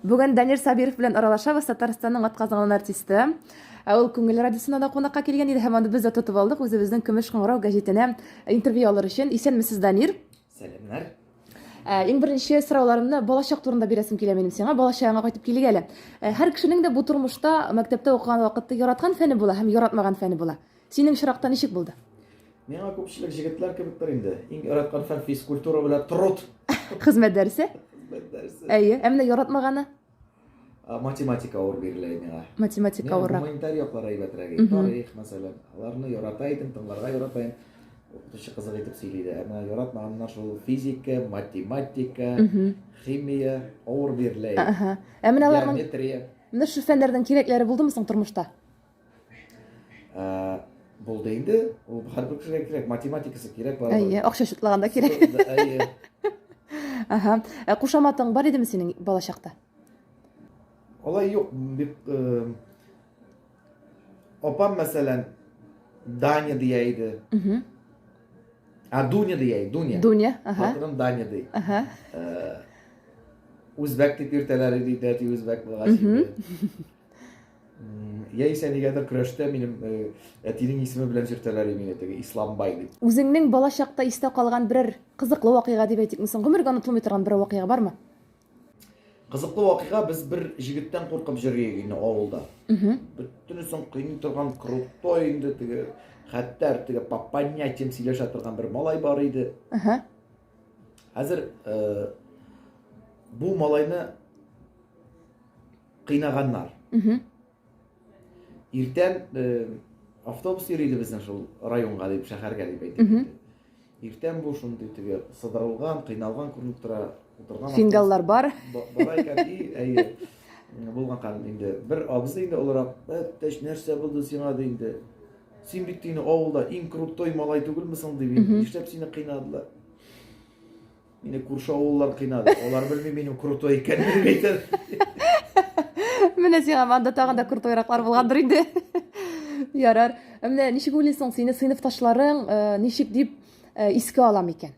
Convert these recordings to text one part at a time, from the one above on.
Бүген Данир Сабиров белән аралашабыз, Татарстанның атказанган артисты. Ә ул Күңел радиосына да кунакка килгән иде һәм аны без дә тотып алдык үзебезнең Көмеш кыңгырау гәҗитенә интервью алыр өчен. Исәнмесез, Данир. Сәламнәр. Ә, иң беренче сорауларымны балачак турында бирәсем килә минем сиңа. Балачагыңа кайтып килик әле. Ә, һәр кешенең дә бу тормышта мәктәптә укыган вакытта яраткан фәне була һәм яратмаган фәне була. Синең очракта ничек булды? Миңа күпчелек җегетләр кебектер инде. Иң яраткан фән физкультура белән труд. Хезмәт дәресе? Хезмәт дәресе. Әйе, ә менә яратмаганы? математика авыр бирелә миңа. Математика авыр. Гуманитар яклар әйбәтрәк. Тарих, мәсәлән. Аларны ярата идем, тыңларга ярата идем. Укытучы кызык итеп сөйли дә. Әмма яратмаганнар шул физика, математика, химия авыр бирелә. Әһә. Ә менә аларның Геометрия. Менә шул фәннәрнең кирәкләре булдымы соң тормышта? Булды инде. Ул һәрбер кешегә кирәк, математикасы кирәк бала. Әйе, акча шутлаганда кирәк. Әйе. Ага. Ә кушаматың бар идеме синең бала чакта? Алай юк, бик э, Опам, мәсәлән, Даня дия иде. Угу. А Дуня дия иде, Дуня. Дуня, ага. Хатыным Даня ди. Ага. Э, Үзбәк дип йөртәләр иде, дәти үзбәк булгач. Яисә нигәдер көрәштә минем э, әтинең исеме белән йөртәләр мине теге Исламбай дип. Үзеңнең балачакта истә калган берәр кызыклы вакыйга дип әйтик, мисың, гомергә онытылмый торган бер вакыйга бармы? Кызыклы вакыйга без бер җегеттән куркып җөргән инде авылда. Бөтенесен кыйный торган крутой инде теге хәтта теге по понятиям сөйләшә торган бер малай бар иде. Хәзер э, бу малайны Кыйнаганнар. Иртән э, автобус йөри иде безнең шул районга дип, шәһәргә дип әйтеп китте. Иртән бу шундый теге сыдырылган, кыйналган күренеп тора. Утырган Сингаллар бар. Бар икән, әйе. Булган кадәр инде бер абзый инде олырак, "Әттәш, нәрсә булды сиңа?" ди инде. Син бит инде авылда иң крутой малай түгелме соң дип, нишләп сине кыйнадылар? Мине күрше авыллар кыйнады. Алар белми минем крутой икәнен әйтер. Менә сиңа анда тагын да крутойраклар булгандыр инде. Ярар. Ә Менә ничек уйлыйсың, сине сыйныфташларың э, ничек дип э, искә ала микән?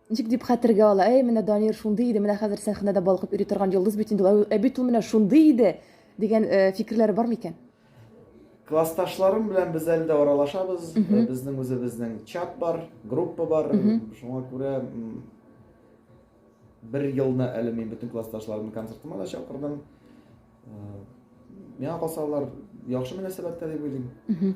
Ничек дип хәтергә ала? Әй, менә Данир шундый иде, менә хәзер сәхнәдә балкып йөри торган йолдыз бит инде. ул. Ә бит ул менә шундый иде дигән э, фикерләре бар микән? Классташларым белән без әле дә аралашабыз. Э, безнең үзебезнең чат бар, группа бар. Шуңа күрә бер елны әле мин бөтен классташларымны концертыма да чакырдым. Э, миңа калса алар яхшы мөнәсәбәттә дип уйлыйм.